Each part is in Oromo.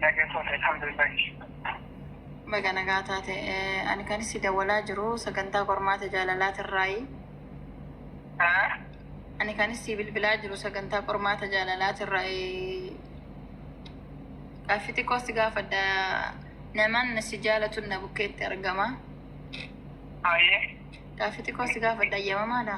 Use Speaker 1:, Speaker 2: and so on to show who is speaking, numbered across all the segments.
Speaker 1: Nagaa taate alhamdulillah. Baga nagaa taate. Eh, Ani kan si dawwalaa jiru sagantaa qormaata jaalalaatirraayi. Haa? Ani kan si bilbilaa jiru sagantaa qormaata jaalalaatirraayi. Gaaffii xiqqoo si gaafadha. Namaan na si jaalatu na bukkeetti argama. Haayee. Gaaffii xiqqoo si gaafadha. Ayyamamaadha.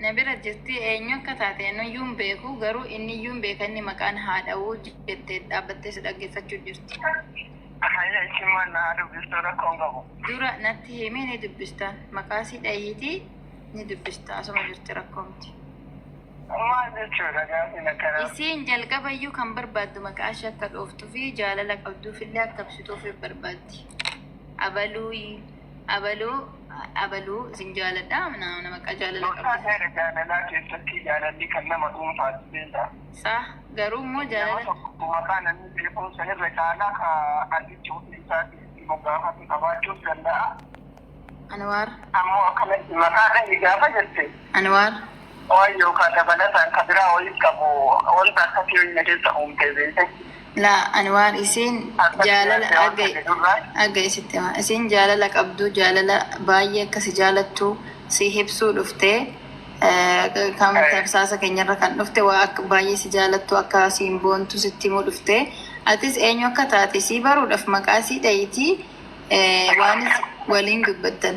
Speaker 2: Na bira
Speaker 1: jirti, eenyu akka taate anuyyuu hin beeku, garuu inniyyuu hin beeka inni maqaan haa dha'u jette dhaabbattee si dhaggeeffachuu jirti. Hayya
Speaker 2: ishiin maal na haa dubbistuu rakkoo hin qabu. Dura natti himi
Speaker 1: ni dubbista. Maqaasii dha'iitii ni dubbista asuma jirti rakkoo miti. Maal
Speaker 2: jechuudha gaafiin akkanaa? Isiin jalqabayyuu
Speaker 1: kan barbaaddu maqaa ishee akka dhooftuu fi jaalala qabduufillee akka ibsituuf barbaaddi. Abaluuyi. Abaluu abaluu isin jaaladha na na maqaa jaalala Gorsaa qabda. seera jaalalaa keessatti
Speaker 2: jaalalli kan nama dhuunfaati beektaa. Saah garuu
Speaker 1: immoo Nama jaalala tokko maqaa namni
Speaker 2: beekuun san irra caalaa ka artichi ofii isaatii itti moggaafate qabaachuus danda'a. Anwaar
Speaker 1: Ammoo
Speaker 2: akkanatti maqaa dhahi gaafa jette Anwaar
Speaker 1: Waayoo
Speaker 2: kaa dabalataan ka biraa wayii qabu wanta akkasii wayii na keessa uumtee beete. Laa Anwaar
Speaker 1: isiin jaalala dhaga'i dhaga'i sitti himaa isiin jaalala qabduu jaalala baay'ee akka si jaalattuu si hibsuu dhuftee kan tamsaasa keenyarra kan dhufte waa akka baay'ee si jaalattuu akka siin boontuu sitti himuu dhuftee atis eenyu akka taate sii baruudhaaf maqaa sii dhayitii waan waliin dubbattan.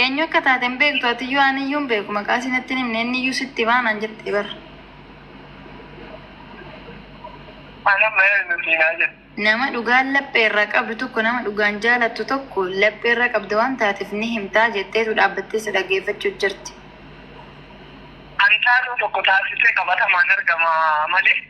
Speaker 2: Eenyu
Speaker 1: akka taate hin beektu atiyyuu aniyyuu hin beeku maqaa si natti hin himne inniyyuu sitti himaa naan jette bar. Ani amma eenyu siinaa jedhe. Nama dhugaan laphee irraa qabdu tokko nama dhugaan jaalattu tokko laphee irra qabda waan taateef ni himtaa jetteetu dhaabbattee si dhaggeeffachuu jirti. An
Speaker 2: taatoo tokko taasisee qabatamaan argama malee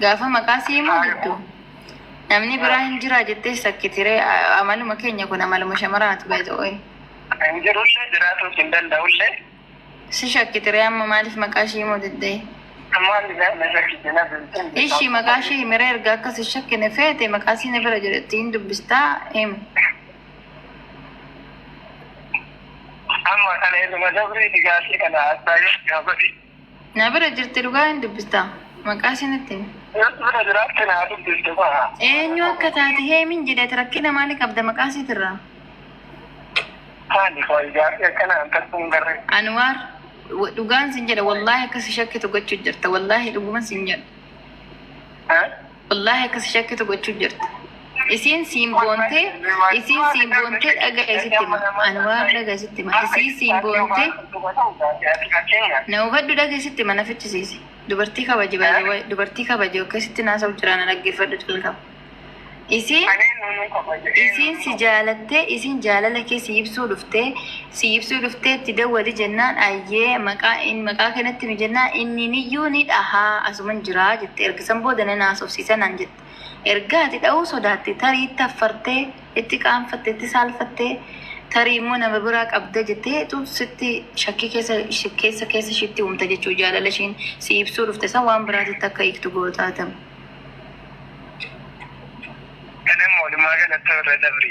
Speaker 1: Gaafa maqaa si himu diddu. Namni biraa hin jiraa jettee shakkiti ree A- amaluma keenya kun amaluma shamaraati by the way. Hin jirullee
Speaker 2: jiraatuus hin danda'ullee. Si
Speaker 1: shakkiti ree amma maaliif maqaa ishii himu diddee? Maal isaan na shakkiti na bilchin. Ishii maqaa ishii himiree erga akka si shakkine feete maqaa ishii na bira jedhetti hin dubbistaa himi. Amma
Speaker 2: kana ilma dabriiti gaafii kana haastaa yoo gaafadhi. Na bira
Speaker 1: jirti dhugaa hin dubbista. Maqaa ishee natti himi. Eessi bira jiraatti
Speaker 2: naa dubbiste ba'a. Eenyu akka taate
Speaker 1: heemin jedheet rakkina maali qabda maqaa isheetirraa? Maali
Speaker 2: koo ijaarri akkana an takka hin garre.
Speaker 1: Anwaar wa- dhugaan sin jedha wallaahi akka si shakkitu gochuu jirta wallaahi dhuguman sin jedha. Eh? Wallahi akka si shakkitu gochuu jirta. Isiin siin boontee, isiin siin boontee dhaga'a isitti hima. Ani waan dhaga'a isitti hima. Isiin siin boontee, na hubadhu dhaga'a isitti hima na fichisiisi. Dubartii kabaji baay'ee waa'ee dubartii kabaji akka isitti naasa'u jira na dhaggeeffadhu jalqaba. Isiin isiin si jaalattee isiin jaalala kee si ibsuu dhuftee sii ibsuu dhuftee itti dawwali jennaan ayyee maqaa in maqaa kee natti himi jennaan inni niyyuu ni dhahaa asuman jiraa jette erga san booda nan haasofsiisa naan jette erga ati dhahuu sodaatte tarii itti affartee itti qaanfatte itti saalfattee tarii immoo nama biraa qabda jetteetu sitti shakkii keessa ishi- keessa keessa ishiitti uumta jechuu jaalala ishiin sii ibsuu dhufte san waan biraatitti akka hiiktu gootaatama. Kana
Speaker 2: immoo walumaa galatti irra dabri.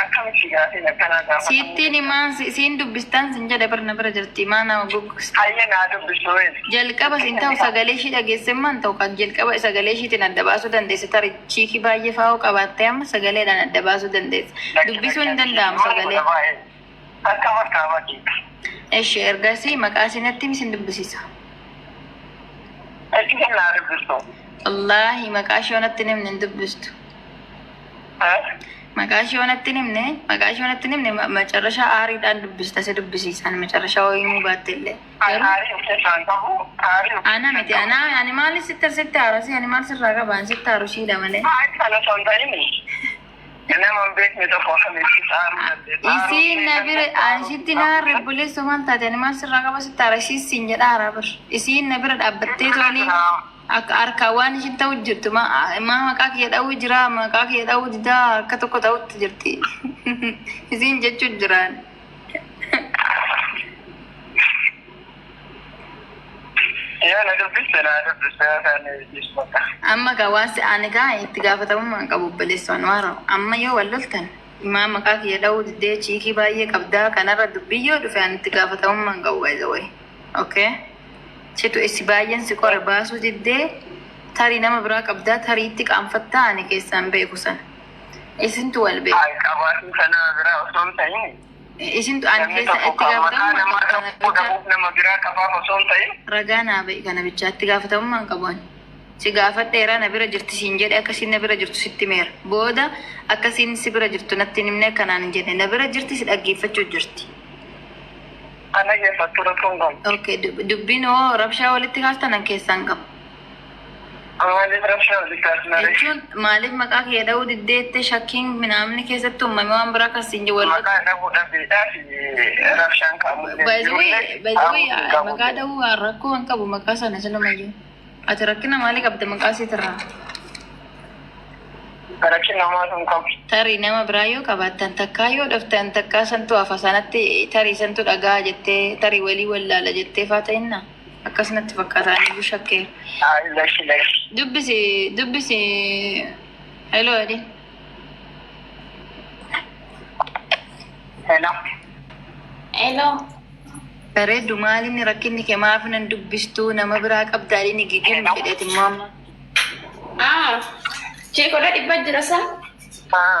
Speaker 2: Akkamitti gaafiin akkanaa gaafatamuu Siittiin danda'a? himaa si-
Speaker 1: siin dubbistaan sin jedhe bar na bira jirti himaa naa goggogste. Hayyee naa dubbisuu
Speaker 2: hin. Jalqaba sin
Speaker 1: ta'u sagalee ishii dhageessemmaan ta'u kan jalqaba sagalee ishiitiin adda baasuu dandeesse tarii chiikii baay'ee faa'oo qabaattee amma sagaleedhaan adda baasuu dandeesse. Dubbisuu hin danda'amu sagalee. Akka
Speaker 2: martaabaa keeti. Eshi ergasii
Speaker 1: maqaa isii natti himi isin dubbisiisa. Eshi kan naa
Speaker 2: dubbistu. Wallaahi
Speaker 1: maqaa ishee onatti hin himne hin dubbistu. Eh? Maqaa ishee onatti hin himne maqaa ishee onatti hin himne ma- macarrashaa aariidhaan dubbista si dubbisiisaan macarrashaa hoo himuu baatte illee. An Garuu haarii of keessaa hin qabu. Haarii of ana miti ana ani maali sitti sitti haarasi ani maal sirraa qaba ani sitti haaru shiidha malee. Haarii sana osoo hin ta'in Isiin na bira anshitti na harre buleessa waan taate ani maal sirraa qaba sitti arashiis siin jedha hara bir. Isiin na bira dhaabbattee tooni akka harkaa waan ishin ta'u jirtu ma- maa maqaa kiyya dha'uu jira maqaa kiyya dha'uu didaa harka tokko ta'utti jirti. Isiin jechuu jiraan. Yoo na dubbiste naa dubbiste yoo isaan dhiisu bakka. Amma gaa waan si aane gaa itti gaafatamummaa hin qabu obboleessoon waaroo. Amma yoo wal loltan imaa maqaa kiyya dha'uu diddee chiikii baay'ee qabdaa kanarra dubbii yoo dhufe ani itti gaafatamummaa hin qabu by the way. Okay? Situ isi baay'een si qore baasuu diddee tarii nama biraa qabdaa tarii itti qaanfattaa ani keessaan beeku sana. Isintu wal beeka. Ay qabaatii
Speaker 2: sanaa biraa osoo hin ta'in Isintu ani namni
Speaker 1: keessa tokko itti kan maqaa gaafatamummaa namaa qabu kana dhabuu bichaa. dhabuuf nama biraa
Speaker 2: qabaaf osoo hin ta'in Ragaa naa ba'i kana
Speaker 1: bichaa itti gaafatamummaa hin qabu ani. Si gaafadheera na bira jirti siin jedhe akkasiin na bira jirtu sitti himeera. Booda akkasiin si bira jirtu natti hin himne kanaan hin jenne na bira jirti si dhaggeeffachuu jirti. kana
Speaker 2: keessattuu rakkoon qabu. Okay, dub- dubbiin
Speaker 1: hoo rabshaa walitti kaastanan keessaan qabu.
Speaker 2: Maaliif rabshaa walitti asnare? jechuun maaliif maqaa
Speaker 1: kiyya dha'uu diddeette shakkiin minaamni keessatti uumame waan biraa kan siin jedhu Maqaa dhahuu dhabeedhaaf
Speaker 2: rabshaan kaamullee By the way, jirullee by the
Speaker 1: way, dhaamuu hin qabu. maqaa dha'uu rakkoo hin qabu maqaa sana silumayyuu. Ati rakkina maalii qabda maqaa siitirraa? Rakkin
Speaker 2: namaa sun qabu. Tarii nama biraa
Speaker 1: yoo qabaattan takkaa yoo dhuftan takkaa santu hafa sanatti tarii santu dhagaa jettee tarii walii wallaala jettee faa ta'innaa? Akkas natti fakkaata ani shakkee. Ay, lashi lashi. Dubbisi dubbisi heloo jedhi.
Speaker 3: Hello. Heloo.
Speaker 1: Bareeddu maalinni rakkinni kee maaf nan dubbistuu nama biraa qabdaa inni gigim jedheeti immoo amma. Ah,
Speaker 3: cheekodha dhibba jira saa. Ah,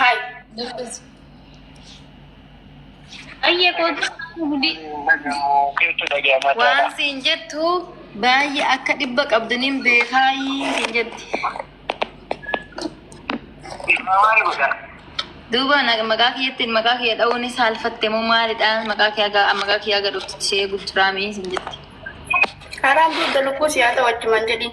Speaker 3: Hai. Ayyee kootu hundi Keetu dhaga'ama.
Speaker 1: waan siin jettu baay'ee akka dhibba qabdaniin beekaayii siin jetti. Maal godha? Duuba na- maqaa kiyyattiin maqaa kiyya dha'uun saalfatte moo maalidha? Maqaa kiyya gaa maqaa kiyya gaa dhufti ishee gurguraamii siin jetti. Karaan
Speaker 3: dugda lukkuu siyaa ta'u achumaan jedhiin.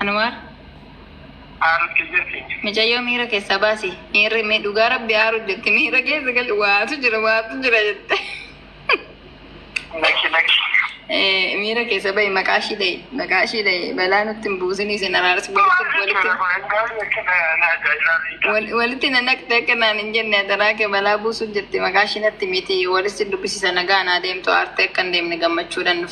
Speaker 1: Anwaar. Micayyoo miira keessaa baasi. Miirri mi dhugaa rabbi aaru jetti. Miira keessa gal waatu jira waatu jira jette. Eh, Miira keessa bahi maqaa ishii dhahi. Maqaa ishii dhahi. Balaa nutti hin buusin isin araarsi walitti walitti wal- walitti na naqxe akka naan hin jenne adaraa kee balaa buusuuf jette maqaa ishii natti miti walitti dubbisiisa nagaa naa deemtu aartee akka hin deemne gammachuudhaan dhufte.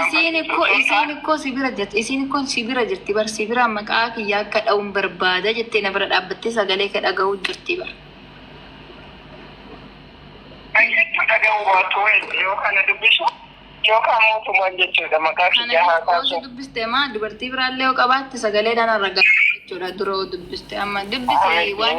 Speaker 1: Isiin ikkoo isiin ikkoo si bira jirti isiin ikkoon si bira jirti bar si bira maqaa kiyya akka dha'uun barbaada jettee na bira dhaabbattee sagalee kee dhaga'uu jirti bar. Kana
Speaker 2: si dubbiste maa dubartii
Speaker 1: biraallee yoo qabaatte sagalee dhaan argaa jechuudha dura yoo dubbiste amma dubbise waan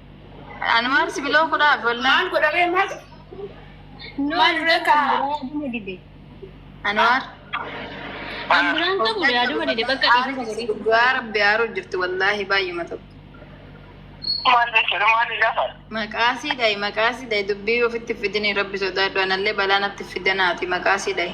Speaker 1: Ani maal si biloo godhaa golla. Maal godharee
Speaker 3: maal? Maal dura kan biraa aduma dide. Anwaar.
Speaker 1: Kan
Speaker 4: biraan qabu yaaduma dide bakka dhiifama godhee. Dhugaa rabbi haaruu
Speaker 1: jirti wallaahi baay'uma tokko. Maal
Speaker 2: jechuudha maal gaafa? Maqaasii dhayi
Speaker 1: maqaasii dhayi dubbii ofitti fidini rabbi sodaadhu anallee balaa natti fidanaati maqaasii dhayi.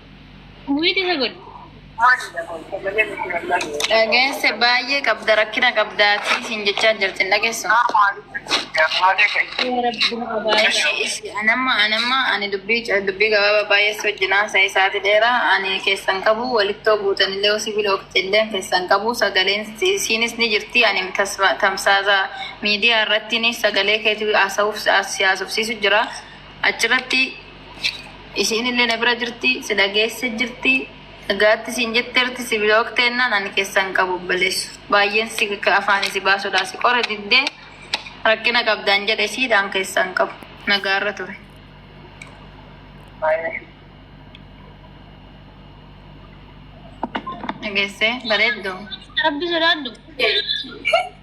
Speaker 4: Wiiti isa godhi.
Speaker 1: Dhageesse baay'ee qabda rakkina qabdaati siin jechaa jirti hin dhageessu. Ishii ishii anamma anamma ani dubbii ca- dubbii gabaabaa baay'ee si wajjin haasa'e isaati dheeraa ani keessan qabu walittoo buutanillee sibiila ooftillee keessan qabu sagaleen si- isiinis ni jirti ani tasma- tamsaasa miidiyaa irratti ni sagalee keetu haasa'uuf si haasofsiisu jira achirratti Isiin illee na bira jirti, si dhageesse jirti. Nagaatti siin jetteerti, si bilookteennan ani keessa hin qabu obboleessa. Baay'een si ka afaanii si baasudhaa si qore diddee rakkina qabdaan jedhe siidhaan keessa hin qabu. Nagaarra ture. Dhageessee bareedduu. Rabbi sodaadhu.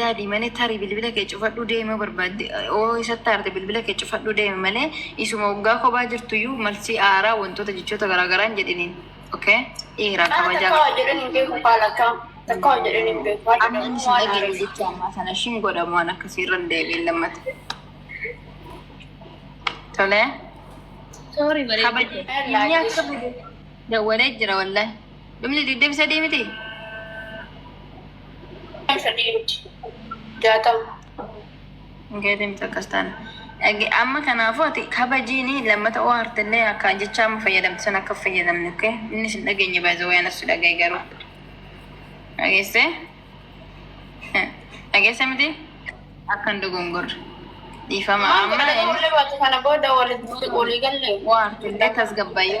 Speaker 1: yaadi malee tarii bilbila kee cufadhuu deemi yoo barbaadde oo isatti aarte bilbila kee cufadhuu deemi malee isuma waggaa kophaa jirtuyyuu malsii aaraa wantoota jechoota garaagaraan jedhiniin okay dhiira Kana kabajaa takka hojjedhan hin beeku kaa
Speaker 3: lakkaa. Takka hojjedhan hin beeku. Haadha amma inni si waan dhageenye
Speaker 1: haareef. jecha ammaa sana ishiin godhamu waan akkasii irra hin deebiin lammata tolee Sorry,
Speaker 4: bareedduu. kabaja Ella, inni akka
Speaker 1: dawwalee jira wallahi Dhumni 23 miti? Sadii miti.
Speaker 3: Jaatama.
Speaker 1: Geetiin akkas taana. Ege- Amma kanaafuu ati kabajiin lammata oo hartillee akka jecha amma fayyadamtu san akka hin fayyadamne okay? Inni sin dhageenye baay'ee waan as dhagaye garuu. Dhageesse? Eh, Dhageesse miti? Akka hin dogongorre. Dhiifama Maal
Speaker 3: amma godhata
Speaker 1: inni wallee baate kana
Speaker 3: booda walitti
Speaker 1: walii galle.
Speaker 3: waa
Speaker 1: hartillee
Speaker 3: tasgabbaa'ee